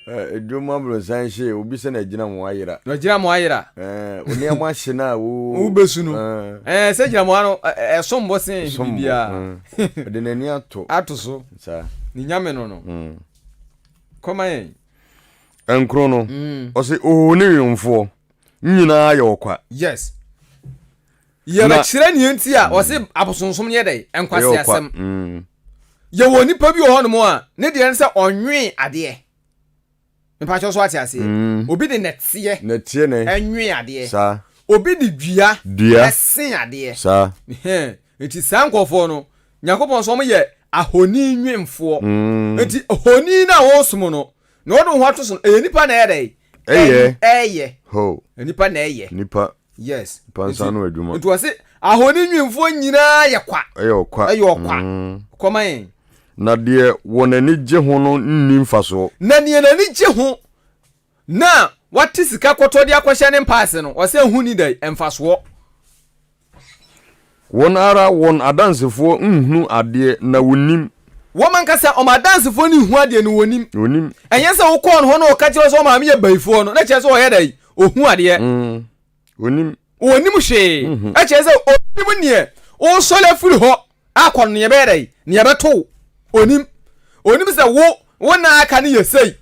Eh, dwom aborosan hye obi sɛ na agyina mo ayera na agyina mo ayera eh, onneɛma hye no a wobɛsu no eh. sɛ gyina moa no ɛsom bo sen biribiaa ɔde n'ani ato ato so ne nyame no no mm. kɔma yɛn ɛnkoro no mm. ɔse oho ne wemfoɔ nyinaa yɛ ɔkwa yes Yɛbɛkyerɛ nea nti a wɔse abosonsom no yɛ dɛn? Nkwaseasɛm. Yɛwɔ onipa bi wɔ hɔnom a ne deɛ ne sɛ ɔnwee adeɛ. Mepakyɛw so wate aseɛ? Obi de nɛteɛ Nɛteɛ ne nwee adeɛ. saa. Obi de dua Dua se adeɛ. saa. Hɛn. Enti saa nkurɔfoɔ no, Nyankopɔn se wɔyɛ ahoni nwemfoɔ. Enti honi no a wɔresom no, na wɔde wɔn ho ato so no, ɛyɛ nnipa na ɛyɛ dɛn? Ɛyɛ. Ɛn, ɛyɛ. Ho. Nnipa na ɛyɛ. Nnipa. Yes. Mpansa no adwuma. Nti wɔse ahoni nwinfoɔ nyinaa yɛ kwa. Ɛyɛ ɔkwa. Ɛyɛ ɔkwa. Kɔ ma yɛn. Na deɛ wɔn ani gye ho no nni mfasoɔ. Na deɛ n'ani gye ho na wate sika kɔtɔ de akɔhyɛ ne mpaase no, ɔse ɛho nni dɛn? Mfasoɔ. Wɔn ara wɔn adansefoɔ nhunu adeɛ, na wɔnnim. Wɔn ankasa wɔn adansefoɔ no nhu adeɛ, na wɔnnim. Wɔnnim. Ɛnyɛ sɛ wokɔɔ ne hɔ na ɔka kyerɛɛ wo sɛ wo maame yɛ bayifoɔ no, na kyerɛ sɛ ɔyɛ dɛn? Ɔhu adeɛ. Ɔnnim. Ɔnnim hwee. Ɛkyerɛ sɛ ɔnnim neɛ woresɔre afiri hɔ akɔ no, neɛ ɛbɛyɛ dɛn? Neɛ ɛbɛto wo. Ɔnnim. Ɔnnim sɛ wo, wo nna a aka no yɛ sei.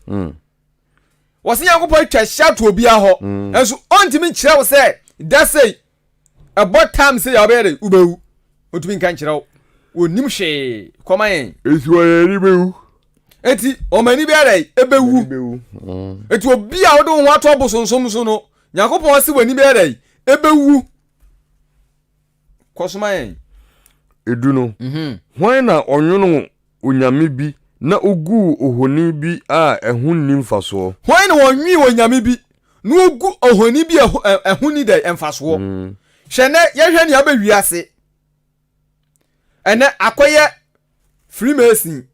Wɔse Nyankopɔn atwa hyɛ ato obiara hɔ, nanso ɔntumi nkyerɛ wo sɛ da sei ɛbɔ tam sɛ yɛ wobɛyɛ dɛ wobɛwu ɔtumi nka nkyerɛ wo wɔnim hwee kɔma yɛn ɛti wɔ yɛn ani bɛwu ɛti wɔn ani bɛyɛ dɛ ɛbɛwu ɛti obi a wode wo ho ato abosonsom so no nyankopɔn se w'ani bɛyɛ dɛ ɛbɛwu kɔsoma yɛn edu no hwan na ɔnwono onyame bi na oguu ohoni bi a ɛho nni mfasoɔ. Hwan na ɔnwee onyame bi na ogu ohoni bi a ɛho nni dɛn? Mfasoɔ. Hwɛ nnɛ, yɛhwɛ nea abɛ wiase ɛnnɛ, akɔyɛ Freemason,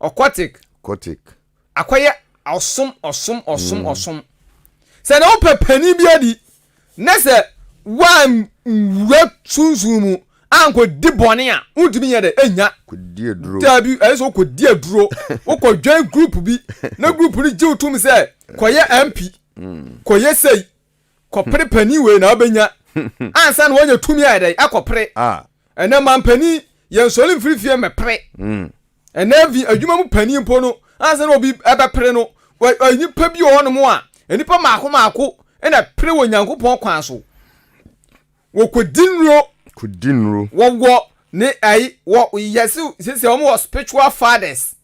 occultic, akɔyɛ ɔsom, ɔsom, ɔsom, ɔsom. Sɛ na wopɛ panin bi adi, Na sɛ woanwura sunsun mu ankɔdi bɔne a, wontumi nyɛ dɛ ɛnya. Kɔdi aduro. Daabi, ɛyɛ sɛ wokɔdi aduro. Wokɔdwɛn group bi, na group no gye wo tom sɛ kɔyɛ MP, kɔyɛ sei, kɔpere panin wei na wobɛnya. Ansa na woanya tumi ayɛ dɛn? Akɔpere. Ɛnɛ mampanin, yɛnsɔre mfiri fie mmɛpere. Ɛnnɛ bi, adwuma mu panin mpo no, ansa na obi bɛpere no, nnipa bi wɔ hɔnom a, nnipa mmaako mmaako na ɛpere wɔ Nyankopɔn kwan so. Wɔkɔdi nnuro. Kɔdi nnuro. Wɔwɔ ne ayi, wɔ yɛse sese wɔn wɔ spiritual fathers,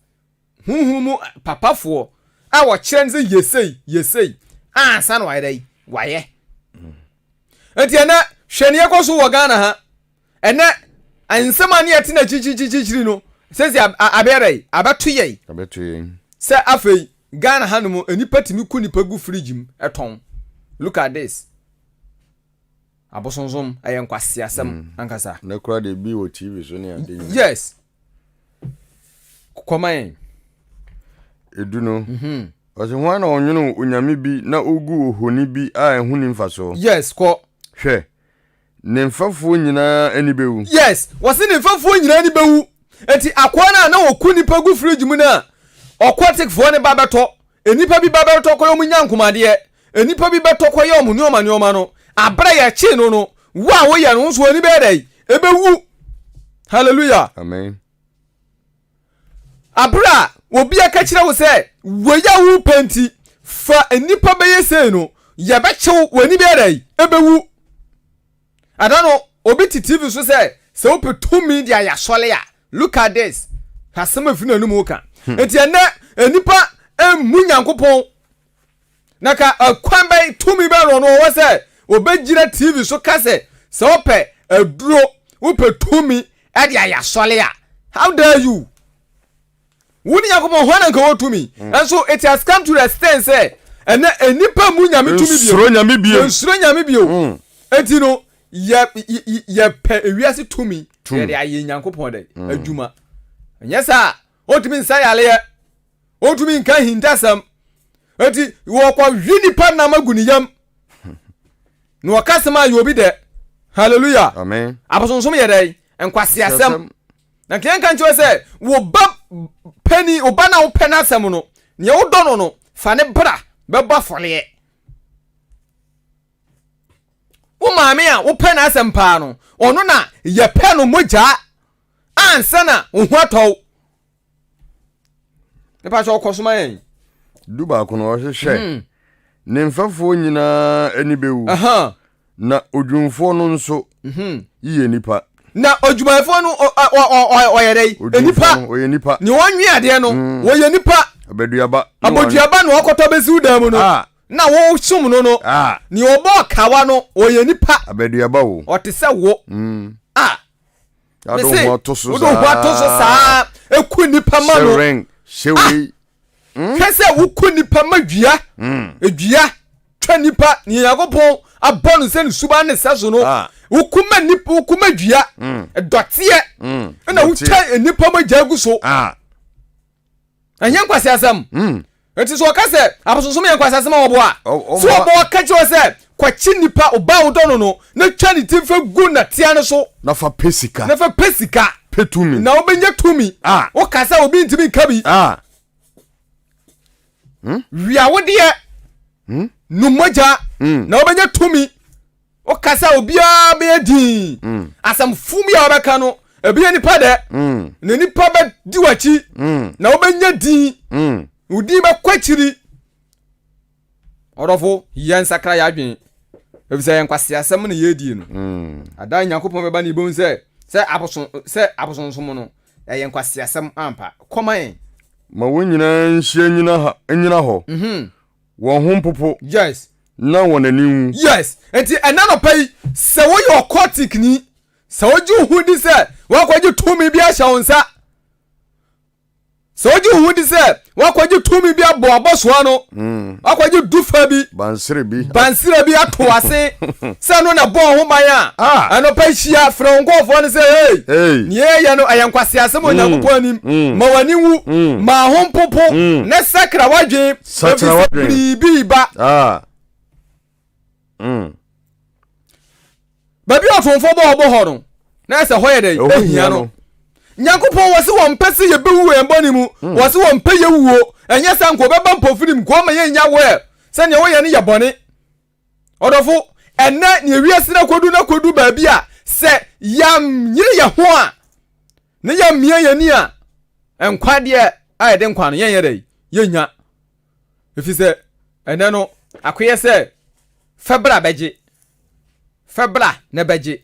huhu mu papafoɔ, a wɔkyerɛ no sɛ yɛ sei, yɛ sei, ansa na wayɛ dɛ, wayɛ. Nti ɛnɛ, hwɛ ne ɛkɔ so wɔ Ghana ha, Ɛnɛ, nsɛm a ne yɛte no akyirikyirikyirikyiri no, seesei abɛyɛ dɛ? Abɛto yɛn. Abɛto yɛn. Sɛ afei, Ghana hanom, nnipa tumi ku nnipa gu fridge mu tɔn. Look at this. Abosonsom, ɛyɛ nkwaseasɛm mm. ankasa. Ne kora de bi wɔ TV so ne ade nyina. Yes. Kɔma yɛn. Edu no. Mm -hmm. Ɔsɛ ho na ɔnwene onyame bi na ogu ohoni bi a ɛho ni mfaso. Yes, kɔ. Hwɛ. Ne mfɛfoɔ nyinaa ani bɛwu. Yes, wɔse ne mfɛfoɔ nyinaa ani bɛwu. Enti akoa no a na ɔku nnipa gu fridge mu no a ɔkɔtekfoɔ no ba bɛtɔ, nnipa bi ba bɛtɔ kɔyɛ wɔn nyankomadeɛ, nnipa bi bɛtɔ kɔyɛ wɔn nnoɔma nnoɔma no, aberɛ a yɛkyee no no, wo a woyɛ no, wo nso w'ani bɛyɛ dɛn? Ɛbɛwu. Hallelujah. Amen. Aber a obi aka kyerɛ wo sɛ, Wei a worepɛ nti, fa nnipa bɛyɛ sei no, yɛbɛkye wo, w'ani bɛyɛ dɛn? Ebewu. Ɛda no, obi te TV so sɛ, sɛ wopɛ tumi de ayɛ asɔre a, look at this. Asɛm a efi n'anom reka. Enti ɛnnɛ, nnipa mmu Nyankopɔn. Na ka ɛkwan bɛn tumi bɛn na ɔno ɔwɔ sɛ ɔbɛgyina TV so ka sɛ sɛ wopɛ aduro wopɛ tumi de ayɛ asɔre a how dare you wo ne Nyankopɔn hɔ na nka wɔ tumi mm. and so it has come to the extent sɛ ɛnɛ nnipa mu nyame tumi bio nsuro nyame bio nsuro nyame bio mm. eti no yɛ yɛ pɛ ewiase tumi yɛde ayɛ Nyankopɔn dɛ mm. adwuma nyɛ saa ɔtumi nsa yaleɛ ɔntumi nka ahintasɛm nti wɔkɔhwe nipa nam agu ne yam na wɔka sɛm ayɛ obi dɛ hallelujah abosonsom yɛ dɛn nkwaseasɛm na nka yɛnka nkyerɛ sɛ wo ba pani wo ba na wopɛ no asɛm no neɛ wodɔ no no fa ne bra bɛbɔ afɔreɛ wo maame a wopɛ no asɛm paa no ɔno na yɛpɛ no mogyaa ansa na wo ho atɔw mepa sɛ ɔkɔ soma yɛn du baako no ɔhwehwɛ hmm. ne mfɛfoɔ nyinaa ani bɛwu na odwumfoɔ no nso mhm. yiyɛ nipa na odwumayɛfoɔ no ɔyɛ dɛ nipa ɔyɛ nipa ne wɔnwe adeɛ no mm. wɔyɛ nipa abɛduaba abɔduaba na ɔkɔtɔ bɛsiw dan mu no ah. na wɔsom no no ah. ne ɔbɔ ɔkawa no ɔyɛ nipa abɛduaba wo ɔte sɛ wo mm. a ah. Wode wo ho ato so saa. Wode wo ho ato so saa. Eku nipa ma no. Sewing, sewing. Ah! Hmm? Hwɛ sɛ woku nipa ma dua. Hmm. Edua twa nipa ne Nyankopɔn abɔ no sɛ ne suban ne sɛ so no. Ah. Woku ma nipa, woku ma dua. Hmm. Dɔteɛ. Hmm. Ɛna wotwa nipa ma gya gu so. Ah. ɛnyɛ nkwaseasɛm hmm. nti sɛ ɔka sɛ abosonsom yɛ nkwaseasɛm a wɔboa so ɔbɔ ɔka kyerɛ sɛ kwakye nipa ɔba a wodɔ no no na twa ne ti fɛ gu natea no so na fa pɛ sika na fa pɛ sika pɛ tumi na wobɛnya tumi ah. woka sɛ obi ntumi nka bi ah. hmm? wia wodeɛ hmm? nummɔgya na wobɛnya tumi Woka sɛ obiara bɛyɛ dinn. Mm. Asɛm fun bi a wɔbɛka no, ebi yɛ nipa dɛ. Mm. Na nipa bɛdi w'akyi. Mm. Na wobɛnya din. Mm. Wo din bɛkɔ akyiri. Ɔdɔfo, yɛn nsakra yɛ adwene. Efisɛ yɛn nkwaseasɛm na yɛredie no. Mm. Adan Nyankopɔn bɛba ne yɛbɛhu sɛ sɛ abosom sɛ abosonsom no ɛyɛ nkwaseasɛm ampa. Kɔma yɛn. Ma wɔn nyinaa nhyia nyina ha nyina hɔ. Mm -hmm. Wɔn ho mpopo. Yes. Na wɔn ani nwu. Yes. Enti ɛnnɛ anɔpa yi, sɛ woyɛ ɔkɔtikni, sɛ wogye wo ho di sɛ woakɔgye tumi bi ahyɛ wo nsa, sɛ wogye wo ho di sɛ woakɔgye tumi bi abɔ abɔsoa no, hmm. woakɔgye dufa bi, bansere bi, bansere bi ato ase, sɛ no na bɔɔ ho ban a, ah. anɔpa hyia frɛ wo nkɔɔfoɔ no sɛ, hey, nea ɛyɛ no ɛyɛ nkwaseasɛm hmm. Onyankopɔn anim, hmm. ma w'ani nwu, ma ho mpopo, ne sakra w'adwene, sakyera wadwen biribi reba ah. mm. baabi a ɔtomfo bɔ ɔbɔ hɔ no na ɛsɛ hɔ yɛ dɛ ɛhia no nyankopɔn wɔ se wɔmpɛ sɛ yɛbɛwu wɔ yɛn bɔne mu mm. wɔ se wɔmpɛ yɛwuo ɛnyɛ sɛ nka ɔbɛba mpofirim nka ɔma yɛnya wɔ sɛdeɛ woyɛ no yɛ bɔne Ɔdɔfo, ɛnɛ nea wiase no akodu no akodu baabi a sɛ yɛnyere yɛn ho a na yɛmmea yɛn ani a nkwa deɛ a yɛde nkwa no yɛnyɛ dɛ yɛnya ɛfiri sɛ ɛnɛ no akoyɛ sɛ fɛbra bɛgye fɛbra na bɛgye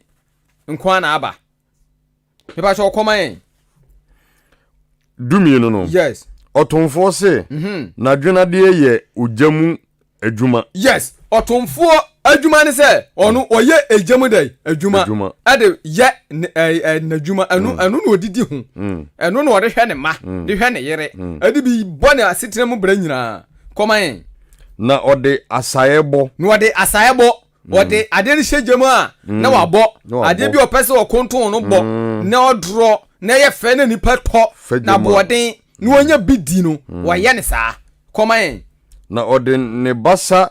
nkoa na aba Mepa sɛ ɔkɔma yɛn. Dumienu no. Yes. Ɔtomfoɔ se, mhm. n'adwenadeɛ yɛ ogya mu adwuma. Yes, ɔtomfoɔ adwuma ne sɛ ɔno mm. ɔyɛ egya mu dɛ adwuma ɛde yɛ n'adwuma ɛno mm. ɛno na ɔde di ho mm. ɛno na ɔde hwɛ ne ma de hwɛ ne yere ɛde bi bɔ ne asetena mu berɛ nyinaa kɔma yɛn. na ɔde asaeɛ bɔ. na ɔde asaeɛ bɔ. wɔde mm. adeɛ no hyɛ gya mu a mm. na wabɔ adeɛ bi ɔpɛ sɛ ɔkonton no bɔ mm. na ɔdorɔ na ɛyɛ fɛ na nipa tɔ na boɔden na wɔnya bi di no wɔyɛ ne saa kɔma yɛn. na ɔde ne basa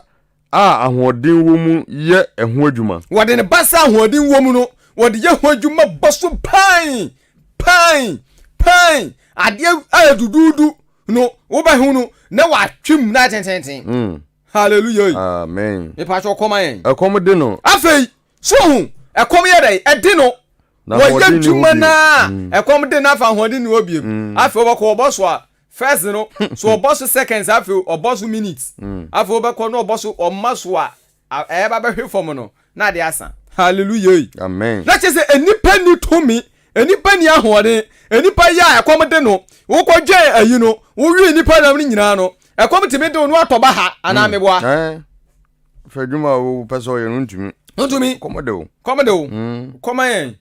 a ahoɔden wɔ mu yɛ ɛho adwuma. wɔde ne basa a ahoɔden wɔ mu no wɔde yɛ ho adwuma bɔ so pan pan pan adeɛ a duduudu no wobɛhu no na wɔatwem na atententen. hallelujah amen mepa kyɛ ɔkɔm ayɛn ɛkɔm de no afei so hu ɛkɔm yɛ dɛn ɛde no wɔyɛ dwuma no a ɛkɔm de no afa ahoɔden ne hɔ biem afei wɔbɛkɔ wɔbɔ so a first no so ɔbɔ so seconds afei ɔbɔ so minutes afei wɔbɛkɔ no ɔbɔ so ɔma so a ɛyɛba bɛhwe fam no Na ade asa. Hallelujah ei. Amen. Na kyerɛ sɛ nnipa ni tumi, nnipa ni ahoɔden, nnipa yɛ a ɛkɔm de no, wokɔ dwɛn ayi no, wowie nnipa nam no nyinaa no, ɛkɔm tumi de wo no atɔ baha anaa hmm. meboa. Eh. Fɛ adwuma a wopɛ sɛ ɔyɛ no ntumi. Ntumi. Kɔm de wo. Kɔm de wo. Hmm. Kɔm ayɛn.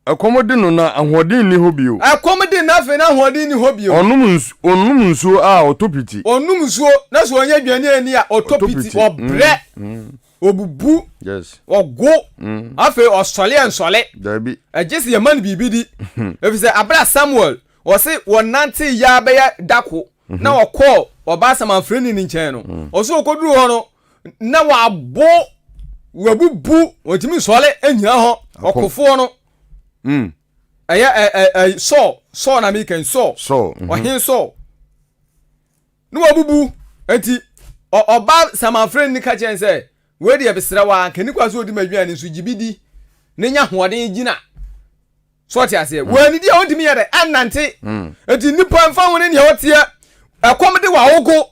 Ɛkɔm de no na ahoɔden nni hɔ bio. Ɛkɔm de no na afei na ahoɔden nni hɔ bio. Ɔnom nsu, ɔnom nsuo a, ɔtɔ piti. Ɔnom nsuo, na sɛ ɔnyɛ dwaniani a, ɔtɔ Ɔtɔ piti. piti. Ɔbrɛ, Mm, mm, ɔbubu, yes. ɔgo, Mm, afei ɔsɔle ɛnsɔle. daabi. Ɛgye sɛ yɛma no biribi di. Ɛfiri sɛ, berɛ a Samuel, ɔse wɔnantee yɛ ara bɛyɛ dako, na ɔkɔɔ ɔbaa samanfrani no nkyɛn no mm. ɔso ɔkɔduru hɔ no na wabo wabubu ɔtumi nsɔle anyina hɔ ɔkofoɔ no mm. ɛyɛ sɔɔ sɔɔ na mekɛn sɔɔ mhm. ɔhen sɔɔ na wabubu nti ɔbaa samanfrani no ka kyɛn sɛ wei deɛ besrɛ wa nkɛnikwa so ɔdi ma aduane nso gye bi di ne nya hoɔden gyina So ɔte aseɛ? Mm. Wɔannidi a ɔntumi yɛ dɛ annante. Mm. Enti nnipa mfa ho ne nea ɔteɛ, ɛkɔm de wawogo.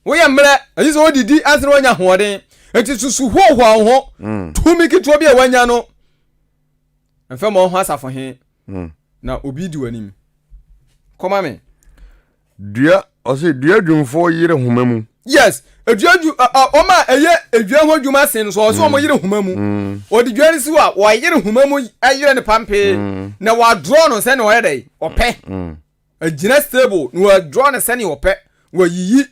Woyɛ mmerɛ, ɛyi sɛ ɔdidi ansa na wanya hoɔden. Enti susu hohoa wo ho. Mm. Tumi ketewa bi a wanya no, mfa ma ɔho asafo he, mm. na obi di w'anim. Kɔma me. Dua ɔse dua dwumfoɔ yere homa mu. Yes dua dwu wɔn a ɛyɛ dua ho adwuma sen no so ɔse wɔn yere homa mu ɔde dua no si hɔ a wɔayere homa mu ayere no pampee na wɔadrɔ no sɛnea ɔyɛ dɛ ɔpɛ agyina stable na wɔadrɔ no sɛnea ɔpɛ wɔayiyi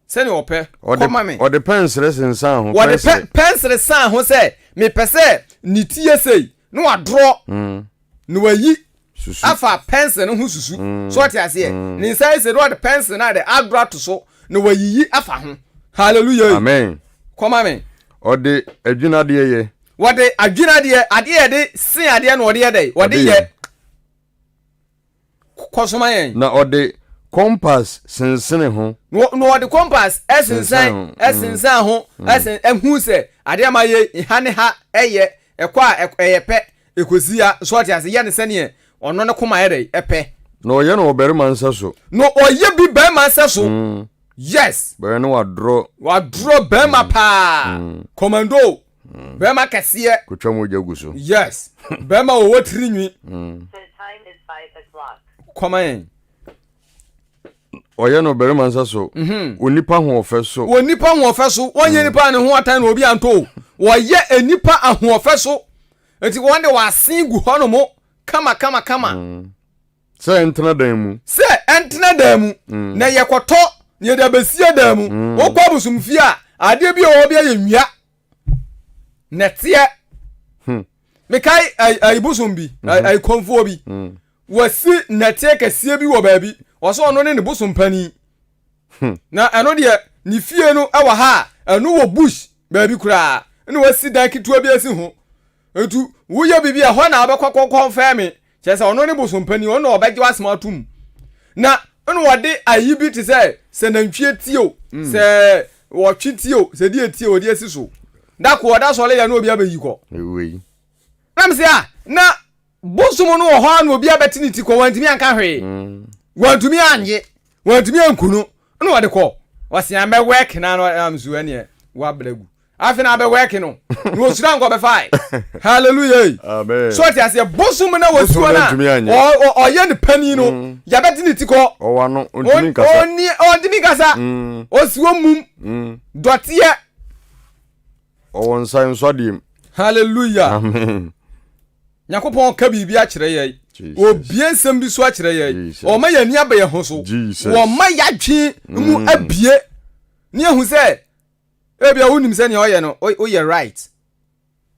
sɛnea ɔpɛ. Kɔ ma me. Ɔde pɛnsere sensan ho. Ɔde pɛ pɛnsere san ho sɛ mepɛ sɛ ne ti yɛ sei na wadorɔ na wayi afa pɛnsere no ho susu so ɔte aseɛ ne nsa yɛ sei na ɔde pɛnsere no ade adorɔ ato so na wayiyi afa ho hallelujah amen kɔ ma me. Ɔde adwinadeɛ yɛ. Wɔde adwinadeɛ adeɛ yɛde sen adeɛ na ɔde yɛ dɛ ɔde yɛ. Kɔ so ma yɛn. Na ɔde kɔmpas sensene ho. Na ɔde kɔmpas sensɛn sensɛn ho sen hu sɛ adeɛ a mayɛ yi ha ne ha yɛ ɛkɔ a ɛyɛ pɛ ɛkɔsi ha so ɔte ase yɛ no sɛdeɛ ɔno ne koma yɛ dɛ ɛpɛ. Na ɔyɛ no wɔ barima nsa so. Na ɔyɛ bi barima nsa so. Yes. Bɛyɛ ne wadorɔ. Wadorɔ barima paa. Kɔmando. Mm. Bɛrima kɛseɛ. Kotwa mogya gu so. Yes. Bɛrima ɔwɔ tiri nwi. Mm. Kɔma yɛn. Ɔyɛ no barima nsa so. Mhm. Wɔ nipa ahoɔfɛ so. Wɔ nipa ahoɔfɛ so. Wɔnyɛ mm. nipa ne ho atan na obi anto. Wɔyɛ nipa ahoɔfɛ so. Nti wɔn de wɔasen gu hɔ no mo kama kama kama. Mm. Sɛ ɛntena dan mu. Sɛ ɛntena dan mu, mm. na yɛkɔtɔ na yɛde abɛsie dan mu. Mm. Wokɔ abosomfie a, adeɛ bi a wɔwɔ bi ayɛ nnua. Nɛteɛ. Hmm. Mekae ayibosom bi, mm-hmm. ayikɔmfoɔ bi. Mm. Wɔasi nɛteɛ kɛseɛ bi wɔ baabi. Wɔsɛ ɔno ne ne bosom panin. Hmm. Na ɛno deɛ, ne fie no wɔ ha a, ɛno wɔ bush baabi koraa. Ɛna wɔasi dan ketewa bi asi ho. Nti woyɛ biribi a hɔ na abɛkɔ kɔkɔmfɛɛ me. Kyerɛ sɛ, ɔno ne bosompanyin, ɔno na ɔbɛgye w'asɛm atom. Na nna ɔde ayi bi te sɛ, sɛ nantwie ti o, mm. sɛ ɔtwe ti o, sɛ deɛ ti o, ɔde asi so. Da ko ɔda sɔre yɛ na obi abɛyi kɔ. Ewei. Na mesɛ a, na bosom no wɔ hɔ a na obi abɛte ne ti kɔ, wantumi anka hwee. Mm. Wantumi anye, wantumi anku no, na ɔde kɔ. Ɔsea mɛwɛke na na mso ɛneɛ wabrɛ gu. afe na abɛ work no na osira nka ɔbɛ fae hallelujah ei so ɔte aseɛ bosom na wɔsuo no a ɔyɛ ne panin no mm. yɛbɛ te ne ti kɔ ɔntumi nkasa ɔsuo mm. mum mm. dɔteɛ ɔwɔ nsa nsɔ deɛ mu hallelujah amen nyankopɔn ka biribi akyerɛ yɛ obie nsɛm bi so akyerɛ yɛ ɔma yɛ ani abɛyɛ ho so wɔma yɛadwe mu abie ne ahu sɛ Ebia wonim sɛ nea ɔyɛ no woyɛ right.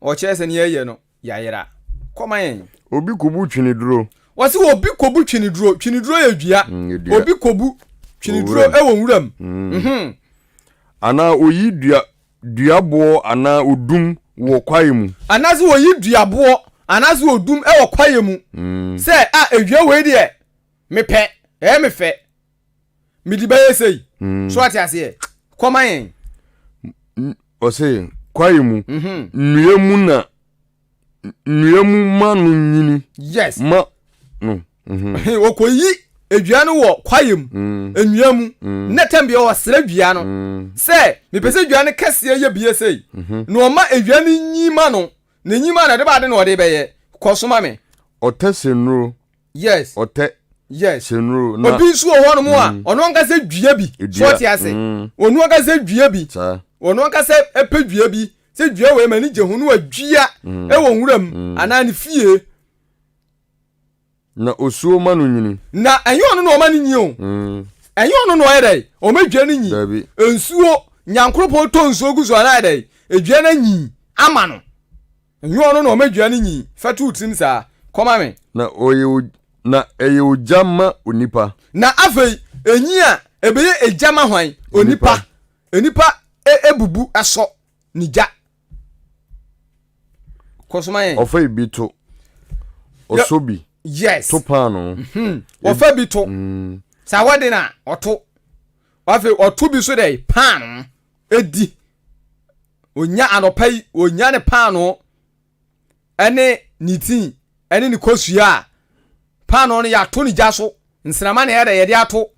Ɔkyerɛ sɛ nea ɛyɛ no yayera. Kɔma yɛn. Obi kobu tweneduro. Wɔsi obi kobu tweneduro. Tweneduro yɛ dua. Mm, obi kobu tweneduro wɔ nwuram. Mm. Mm-hmm. Anaa oyi dua duaboɔ anaa odum wɔ kwaeɛ mu. Anaasɛ oyi duaboɔ anaasɛ odum wɔ kwaeɛ mu. Mm. Sɛ a ah, edua wei deɛ mepɛ ɛyɛ mefɛ. mede bɛyɛ sei mm. so ate aseɛ kɔma yɛn ɔse kwae mu mhm. nnua mu na nnua mu ma no nyini yes ma no mhm. ɔkɔyi edua no wɔ kwae mu mm. nnua mu mm. na tɛm deɛ ɔsrɛ dua no sɛ mepɛ sɛ dua no kɛseɛ yɛ bie sei mhm. na ɔma edua no nyi ma no na nyi ma no ɛde baade na ɔde bɛyɛ kɔsoma me ɔtɛse nnuro yes ɔtɛ yes hyɛnuro na obi nso wɔ hɔ nom a ɔno ankasa dua bi so ɔte ase ɔno ankasa dua bi ɔno ankasa pɛ dua bi sɛ dua wɔ ɛma ne gye ho no adua ɛwɔ nwura mu anaa ne fie na osuo ma no nyini na ɛnyɛ ɔno na ɔma no nyi o ɛnyɛ ɔno na ɔyɛ dɛ ɔma dua no nyi nsuo nyankoropɔn tɔ nsuo gu so anaa dɛ dua no nyi ama no Nyɛ ɔno na ɔma dua no nyin fɛtw wo tirim saa? Kɔ ma me. Na ɔyɛ o, na ɛyɛ ogya ma onipa. Na afei enyin a, ebeye egya ma hwan? Onipa. Onipa e, ebubu sɔ ne gya. Kɔ so ma yɛn. Ɔfa ebi to. Ɔsɔ bi. Yes. To paanoo. Mhm. Ɔfa bi to. Mm. Sɛ awɔde no a, ɔto. Afei ɔto bi nso dɛ paanoo. di. Onya anɔpa yi, onya ne paanoo ne ne tii ne ne kosua a, paanoo no yɛato ne gya so, nsrama na yɛde yɛde ato.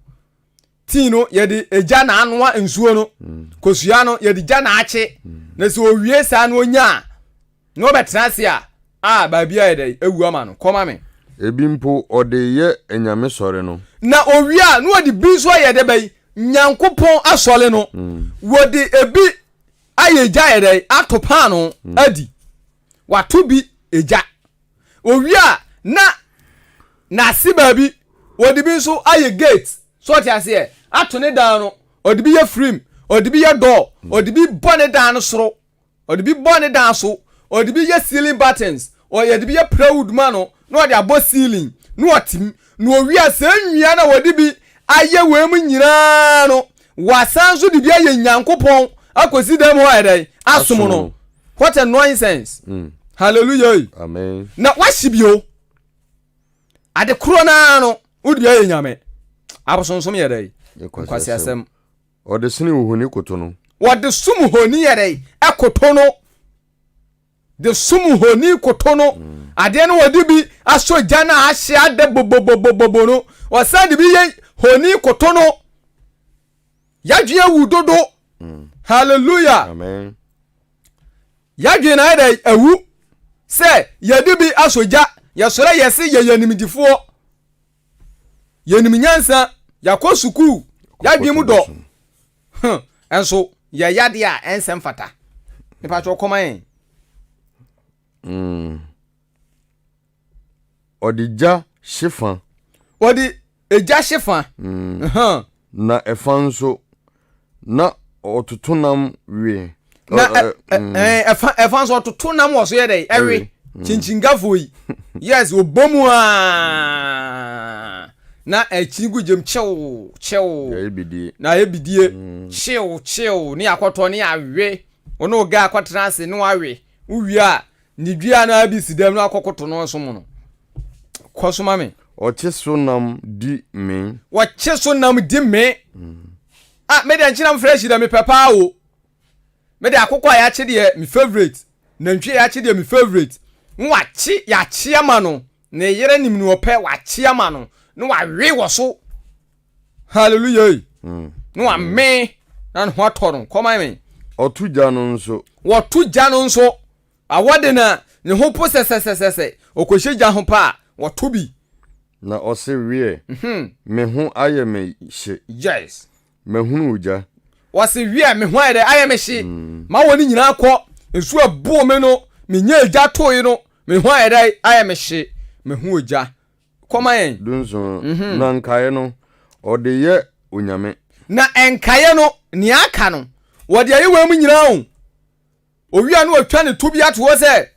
Tii no yɛde egya na anoa nsuo no, mm. kosua no yɛde gya na akye. Mm. Na sɛ owie saa no onya a, Na ɔbɛtena ase a, a baabi ayɛ dɛ, awu ama no. Kɔ ma me. Ebi mpo ɔde yɛ anyame sɔre no. Na owie a, na ɔde bi nso ayɛ dɛ bɛyi Nyankopɔn asɔre no. Wɔde ebi ayɛ egya ayɛ dɛ ato paano adi. Wato bi egya. Owie a, na n'ase baabi ɔde bi nso ayɛ gate. So ɔte aseɛ? Ato ne dan no, ɔde bi yɛ frame, ɔde bi yɛ door, ɔde bi bɔ ne dan no soro. ɔde bi bɔ ne dan so, ɔde bi yɛ ceiling buttons, ɔde bi yɛ plywood ma no na ɔde abɔ ceiling na ɔte mu. Na owie a saa nnua na wɔde bi ayɛ wei mu nyinaa no, wɔasan nso de bi ayɛ Nyankopɔn akɔsi dan mu hɔ ayɛ dɛn? Asom no. What a nonsense. Mm. Hallelujah. Amen. Na wɔahye bio. Ade korɔ no ara no, wode bi ayɛ nyame. Abosonsom yɛ dɛn? Nkwasiasɛm. Wɔde sene ohoni koto no. Wɔde som honi yɛ dɛ ɛkoto no. De som honi koto no. Hmm. Adeɛ no wɔde bi asɔ gya no a ahye ada bobobobobobo no. Wɔsan de bi yɛ honi koto no. Yadwene awu dodo. Hmm. Hallelujah. Amen. Yadwene na ayɛ dɛ awu sɛ yɛde bi asɔ gya. Yɛsɔrɔ yɛse yɛyɛ nimdifoɔ. yɛnim nyansa yɛakɔ sukuu yɛadwene mu dɔ ɛnso yɛyɛ adeɛ a ɛnsɛ mfata nipa kyɛ ɔkɔma yɛn mm. ɔde gya hye fa ɔde egya hye fa mm. na ɛfa nso na ɔtoto nam we. na ɛfa ɛfa nso ɔtoto nam wɔ so yɛ dɛ ɛwe mm. kyinkyingafoɔ yi yes ɔbɔ mu a na ɛkyini gu gyam kyew kyew na ayɛ bidie mm. kyew kyew ne akɔtɔ ne awe ɔne ɔga akɔtena ase ne wawe wowie a Ne dua no ara bi si dɛm no akɔkoto no ɔsom no. Kɔ so ma me. Wɔkye so nam di me. Wɔkye so nam di me. Mm. Ah, me deɛ nkyena mfrɛ hyira mepɛ paa o. Me deɛ akokɔ a yɛakye deɛ me favorite. Nantwi a yɛakye deɛ me favorite. Nwakye yɛakye ama no. Ne yere nim ne ɔpɛ wakye ama no na wawe wɔ so hallelujah yi hmm. na wamee na ne ho atɔ no kɔma me ɔto gya no nso wɔto gya no nso awɔ de na ne ho po sɛsɛsɛsɛ ɔkɔhyɛ gya ho paa wɔto bi na ɔse weɛ mhm. me ho ayɛ me hye yes Mahunu wo gya. Wɔse wiɛ me ho ayɛ dɛ ayɛ me hye ma wɔne nyinaa kɔ nsu ɛboo me no me nyaa gya tooe no me ho ayɛ dɛ ayɛ me hye me ho ogya kɔ ma yɛn. Dunson na nkaeɛ no ɔde yɛ onyame. Na nkaeɛ no nea aka no wɔde ayɛ wei mu nyinaa o. Owia no otwa ne to bi ato hɔ sɛ,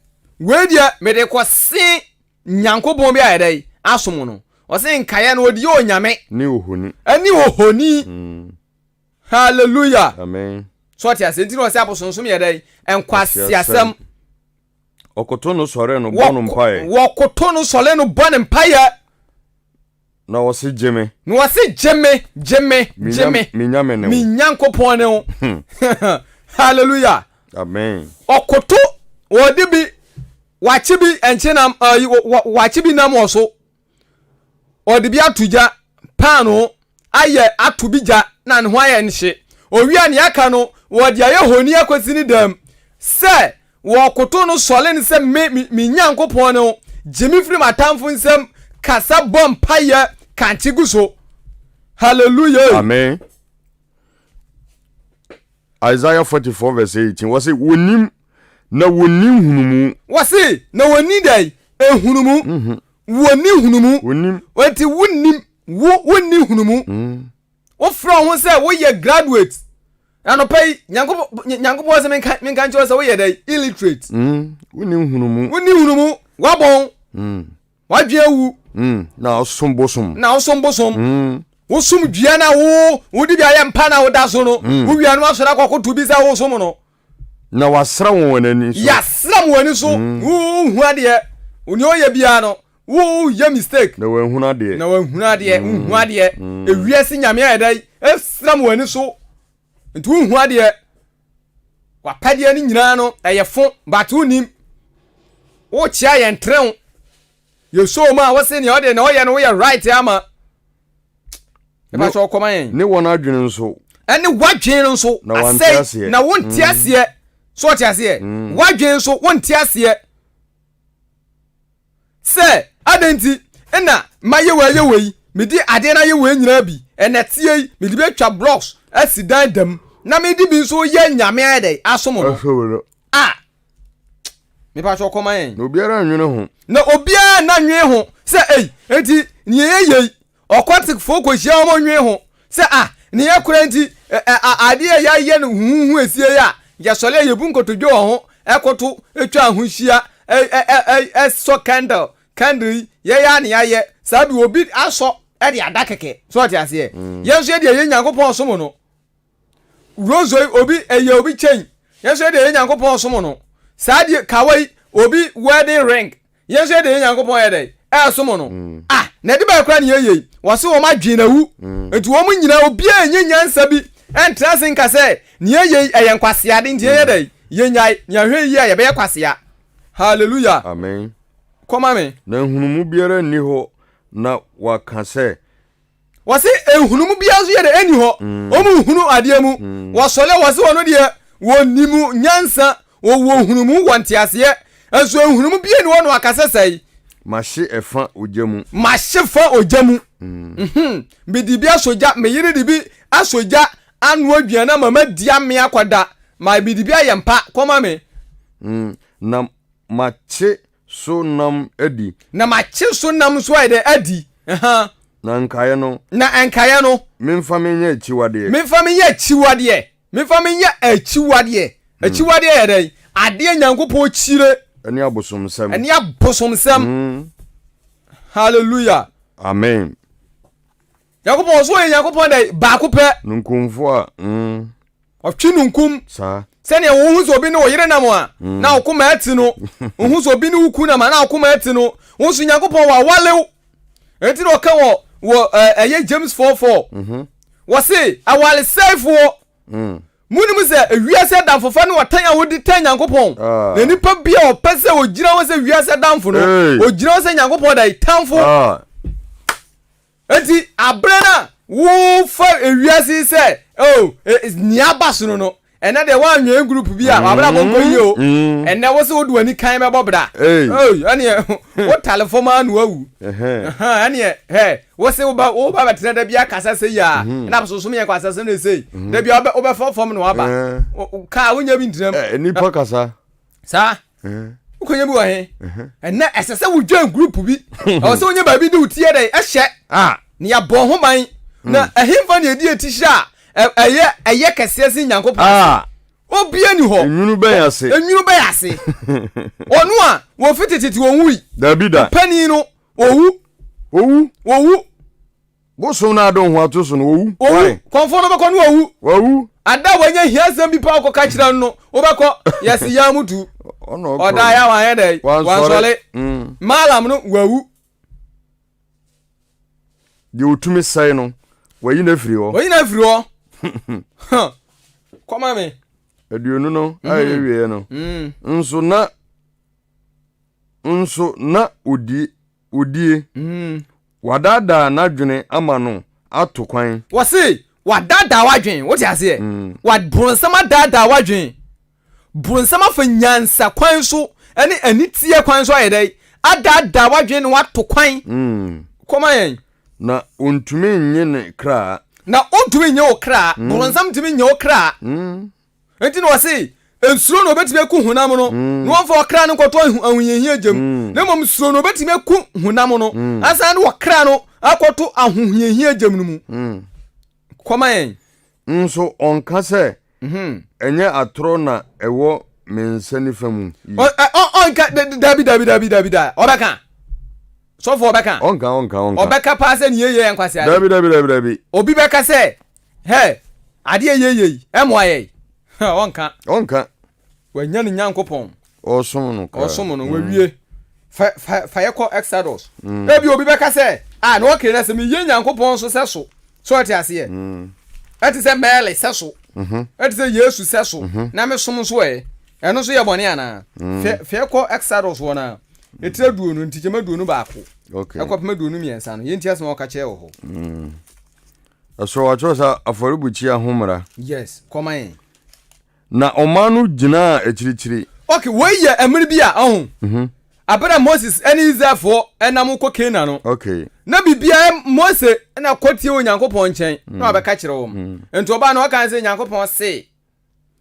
Wei deɛ mede rekɔse Nyankopɔn bi a yɛdɛ yi asom no. Ɔse nkaeɛ no ɔde yɛ onyame. Ne ohoni. Ɛne ohoni. Hallelujah. Amen. So ɔte aseɛ nti na ɔse abosonsom yɛ dɛ yi? Nkwaseasɛm. Wɔkoto no sɔre no bɔ no mpaeɛ. Wɔkoto no sɔre no bɔ no mpaeɛ. Na wɔse gye me. Na wɔse gye me, gye me, gye me. Me nyame ne wo. Me nyankopɔn ne wo. Hallelujah. Amen. Ɔkoto wɔde bi wakye bi ɛnkye nam ɛyi wakye bi nam wɔ so. Ɔde bi ato gya paano ayɛ ato bi gya na ne ho ayɛ nhye. Owia ne aka no wɔde ayɛ honi akosi ne dɛm sɛ Wɔkotow no sɔre no sɛ, Me, me, me Nyankopɔn no, gye me firi m'atamfo nsam, kasa bɔ mpaeɛ, kankye gu so. Hallelujah. Amen. Isaiah 44 verse 18, wɔse, wɔnim na wɔnni nhunumu. Wɔse, na wɔnni dɛn? Nhunumu. Mhm. Wɔnni nhunumu. Wɔnim. Wɔnti wonim, wo, wonni nhunumu. Mm. wofrɛ wo ho sɛ woyɛ graduate anɔpa yi nyankopɔn sɛ menka nkyerɛ sɛ woyɛ dɛ illiterate mm, woni nhunumu woni nhunumu wabɔn mm. wadwe awu mm, na ɔsom bosom na ɔsom bosom mm. wosom dua na wo wode bi ayɛ mpa na woda so no mm. wowia no asɔre akɔkoto bi sɛ wosom no Na wasra wɔn wɔn ani so. Yasra wɔn ani so. Mm. Wohu adeɛ. Onye ɔyɛ biara no. Woyɛ mistake. Na wɔahunu adeɛ. Na wɔahunu adeɛ. Mm. Wohu adeɛ. Mm. Ewiase nyame ayɛ dɛ. Esra wɔn ani so. Nti wohu adeɛ. Wapɛdeɛ no nyinaa no ɛyɛ fo but wonim. Wokyea yɛn trɛw. yɛ show mu a wose nea ɔde na ɔyɛ no woyɛ right ama ɛba sɛ ɔkɔma yɛn ne wɔn adwene nso ɛne wadwene no nso asɛe na wonte aseɛ so ɔte aseɛ wadwene nso wonte aseɛ sɛ adɛn nti ɛna mayɛ wei ayɛ wei medi adeɛ no ayɛ wei nyinaa bi ɛna teɛ yi mede bɛtwa blocks asi dan dam na mede bi nso yɛ nyame ayɛ dɛ asom no a mepa kyɛ ɔkɔma yɛn. na obiara nwene ho. na obiara nna nwene ho sɛ ei nti nea yɛ yei ɔkɔtekfoɔ kɔhyia wɔn nwene ho sɛ ah ne yɛ kora nti adeɛ a yɛayɛ no huhuhu esie yɛ a yɛsɔre a yɛbu nkotodwe wɔ ho ɛkoto atwa ho hyia ɛsɔ candle candle yi yɛyɛ a ne yɛayɛ saa bi obi asɔ ɛde ada kɛkɛ so ɔte aseɛ mm. yɛn nso yɛde ɛyɛ nyankopɔn som no Rozo yi obi ɛyɛ obi kyɛn yɛn nso yɛde ɛyɛ nyankopɔn ɔsom no saa deɛ kawa yi obi wedding ring yɛn nso yɛde ɛyɛ nyankopɔn yɛ dɛ ɛɛsom no mm. ah na ɛde bɛyɛ koraa ne yɛyɛ yi wɔse wɔn adwene na wu mm. nti wɔn nyinaa obiara nyɛ nyansa bi ɛntra se nka sɛ ne yɛyɛ yi ɛyɛ nkwaseade nti yɛyɛ dɛ yɛnyae ne ahwɛ yi a yɛbɛyɛ kwasea hallelujah amen kɔma me na nhunumu biara nni hɔ na waka sɛ Wɔse nhunumu biara nso yɛ dɛ ɛnni hɔ, wɔn nhunu adeɛ mu, wɔsɔre a wɔse wɔn deɛ wɔnim nyansa, wɔwɔ nhunumu, wɔ nteaseɛ, nso nhunumu biara nni hɔ na wɔaka sɛ sɛe. Mahye ɛfa ogya mu. Mahye fa ogya mu. Mhmm, mede bi asɔ gya, me yere de bi asɔ gya anoa aduane ama madi amee akɔda, ma mede bi ayɛ mpa kɔma me. Mhmm, na makye so nam adi. Na makye so nam nso ayɛ dɛ adi. Na nkaeɛ no. Na nkaeɛ no. Memfa me nyɛ akyiwadeɛ. Memfa me nyɛ akyiwadeɛ. Memfa me nyɛ akyiwadeɛ. Akyiwadeɛ yɛ dɛn? Adeɛ Nyankopɔn kyire. Ɛne abosomsɛm. Ɛne abosomsɛm. Hallelujah. Amen. Nyankopɔn, ɔso ɔyɛ Nyankopɔn dɛ, baako pɛ. Ninkunfo a, mm. Ɔtwe ninkum. Saa. Sɛdeɛ wohu sɛ obi ne wo yere nam a, mm. na wo koma ati no. Wohu sɛ obi ne wo ku nam a, na wo koma ati no. Wohu sɛ Nyankopɔn wɔ awalew. Enti na ɔka wɔ, wɔ ɛyɛ eh, James 4:4. Mm -hmm. Wɔse, awalesɛefoɔ. Mm. Monim sɛ wiase adamfofa ne ɔtan a wodi tan Nyankopɔn. Ah. Na nipa bi a ɔpɛ sɛ ogyina hɔ sɛ wiase adamfo no, ogyina hɔ sɛ Nyankopɔn da tamfo. Ah. Enti abere no a wofa wiase yi sɛ oh nea aba sono no ɛnɛ deɛ woanwɛn group bi a wabrabɔ nkɔ yie o ɛnɛ wo sɛ wode w'ani kan bɛbɔ bra ɛneɛ wotale fam ara na wawu ɛneɛ hɛ wo se woba woba bɛtena da bi akasa sɛ yia na bɛsosom yɛn kɔ asasem ne sei da bi wobɛfa fam na waba kaa wonya bi ntinam nipa kasa saa wokɔnya bi wɔ he ɛnɛ ɛsɛ sɛ wodwan group bi ɛwɔ sɛ wonya baabi de wo tiɛ dɛ ɛhyɛ ne yɛbɔ ho ban na ɛhemfa ne ɛdi ati hyɛ a ɛyɛ ɛyɛ kɛseɛ se nyankopɔn obia ni hɔ enwunu bɛyɛ ase enwunu bɛyɛ ase ɔno a wɔfi tetete wɔn wui dabi da panin no owu owu owu Bosom no adɔ ho ato so no, wɔwu. Wɔwu. Kɔmfoɔ no bɛkɔ no wɔwu. Wɔwu. Ada a wɔanya hiasɛm bi paa kɔka kyerɛ no no, wobɛkɔ. Yɛse yɛ mo tu. Ɔdaa yɛ a wanyɛ dɛ? Wansɔre. Mm. Maalam no wɔwu. Deɛ ɔtumi sɛe no, wɔayi no afiri hɔ. Wɔyi no afiri hɔ. Kɔma me. Aduonu no a mhm. ɛyɛ wieɛ no. Mm. Nso na nso na ɔdie odie. Wadaadaa n'adwene ama no ato kwan. Wɔse wadaadaa w'adwene, wote aseɛ? Wad, bronsam adaadaa w'adwene. Bronsam afa nyansa kwan so ne aniteɛ kwan so ayɛ dɛn? Adaadaa w'adwene na wato kwan. Kɔma yɛn. Na ɔntumi nnye ne kra. Na ɔntumi nnye wo kra. Bronsam ntumi nnye wo kra. Enti na ɔse, Nsuro na obetumi aku honam no, na wɔmfa ɔkra no nkɔto ahohiahia gya mu, na mmom suro na obetumi aku honam no, asan de ɔkra no akɔto ahohiahia gya mu no mu. Kɔma yɛn. Nso ɔnka sɛ, mhm. Ɛnyɛ atorɔ na ɛwɔ me nsa nifa mu yi. Ɔnka, dabi, dabi, dabi, dabi, da. Ɔbɛka. Sɔfo ɔbɛka. Ɔnka, ɔnka, ɔnka. Ɔbɛka paa sɛ nea yɛ yɛ nkwaseade. Dabi, dabi, dabi, dabi. Obi bɛka sɛ. Hɛ! Adeɛ a yɛyɛ yi, ɛmmoa yɛn? Hɛ! Ɔnka. Ɔnka. Wɔanya ne Nyankopɔn. Ɔresom no koraa. Ɔresom no, wawie. Fa, fa, fa yɛ kɔ Exodus. Mm. Ebi obi bɛka sɛ, ah, na ɔkee na sɛ meyɛ Nyankopɔn so sɛ so. So ɔte aseɛ? Mm. Ɛte sɛ Mary sɛ so. Mm -hmm. Ɛte sɛ Yesu sɛ so. Mm -hmm. Na mesom nso ɛ. Ɛno nso yɛ bɔne anaa? Mm. Fɛ, fa yɛ kɔ Exodus wɔ no ɛtira duonu ntikyɛma duonu baako okay. ɛkɔpem aduonu mmiɛnsa no yɛnti asɛm a wɔka kyerɛ wɔ hɔ mm. Ɛsoro wɔatwerɛ sɛ afɔrebukyia ho mmara. Yes, kɔma yɛn. Na ɔman no gyinaa akyirikyiri. Ok, wei yɛ ɛmere bi a ɔho. Mm -hmm. Abere a Moses ne Israelfoɔ nam kɔ Canaan no. Ok. Na biribiara Mose na kɔtie wɔ Nyankopɔn nkyɛn mm. na wabɛka kyerɛ wɔn. Mm. Nti ɔbaa no ɔka sɛ Nyankopɔn se.